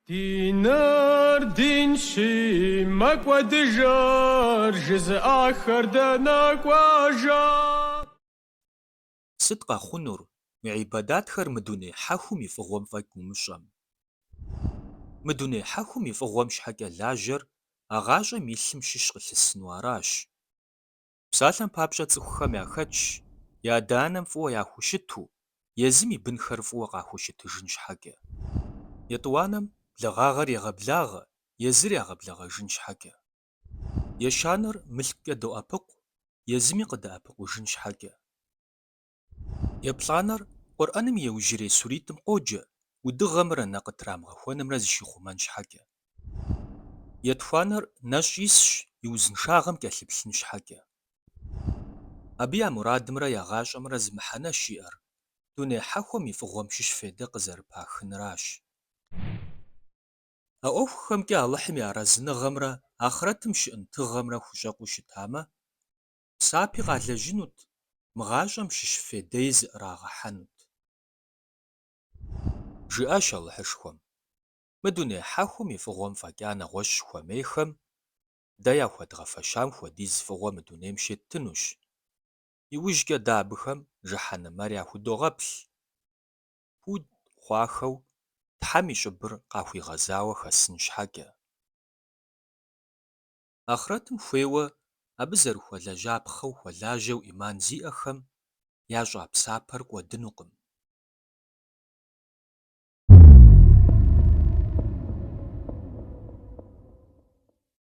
Диныр динщи, мэкӏуэдыжыр жызыӏахэр дэнэ кӏуэжа? Сыт къэхъунур мы ибадатхэр мы дуней хьэхум и фӏыгъуэм фӏэкӏ умыщӏэм? Мы дуней хьэхум и фӏыгъуэм щхьэкӏэ лажьэр а гъащӏэм илъым щыщ къылъысыну аращ. Псалъэм папщӏэ цӏыхухэм яхэтщ я адэ-анэм фӏыуэ яхущыту, езым и бынхэр фӏыуэ къахущытыжын щхьэкӏэ. Етӏуанэм благъагъэр егъэблагъэ, езыр ягъэблэгъэжын щхьэкӏэ. Ещанэр мылъкукӏэ доӏэпыкъу, езыми къыдэӏэпыкъужын щхьэкӏэ. Еплӏанэр Къурӏэным и иужьрей суритӏым къоджэ, удыгъэмрэ нэ къытрамыгъэхуэнымрэ зыщихъумэн щхьэкӏэ. Етхуанэр нэщӏ исщ и узыншагъэм кӏэлъыплъын щхьэкӏэ. Абы я мурадымрэ я гъащӏэмрэ зы мыхьэнэщ иӏэр, дуней хьэхуэм и фӏыгъуэм щыщ фейдэ къызэрыпахынращ. А ӏуэхухэмкӏэ Алыхьым и арэзыныгъэмрэ ахърэтым щыӏэн тыгъэмрэ хущӏэкъуу щытамэ, псапи къалэжьынут, мы гъащӏэм щыщ фейдэи зыӏрагъэхьэнут. Жиӏащ Алыхьышхуэм, Мы дуней хьэхум и фӏыгъуэм фӏэкӏа нэгъуэщӏ хуэмейхэм, дэ яхуэдгъэфэщам хуэдиз фӏыгъуэ мы дунейм щеттынущ. Иужькӏэ дэ абыхэм жыхьэнэмэр яхудогъэплъ. Пуд хъуахэу Тхьэм и щӏыбыр къахуигъэзауэ хэсын щхьэкӏэ. Ахърэтым хуейуэ абы зэрыхуэлэжьапхъэу хуэлажьэу ӏиман зиӏэхэм ящӏа псапэр кӏуэдынукъым.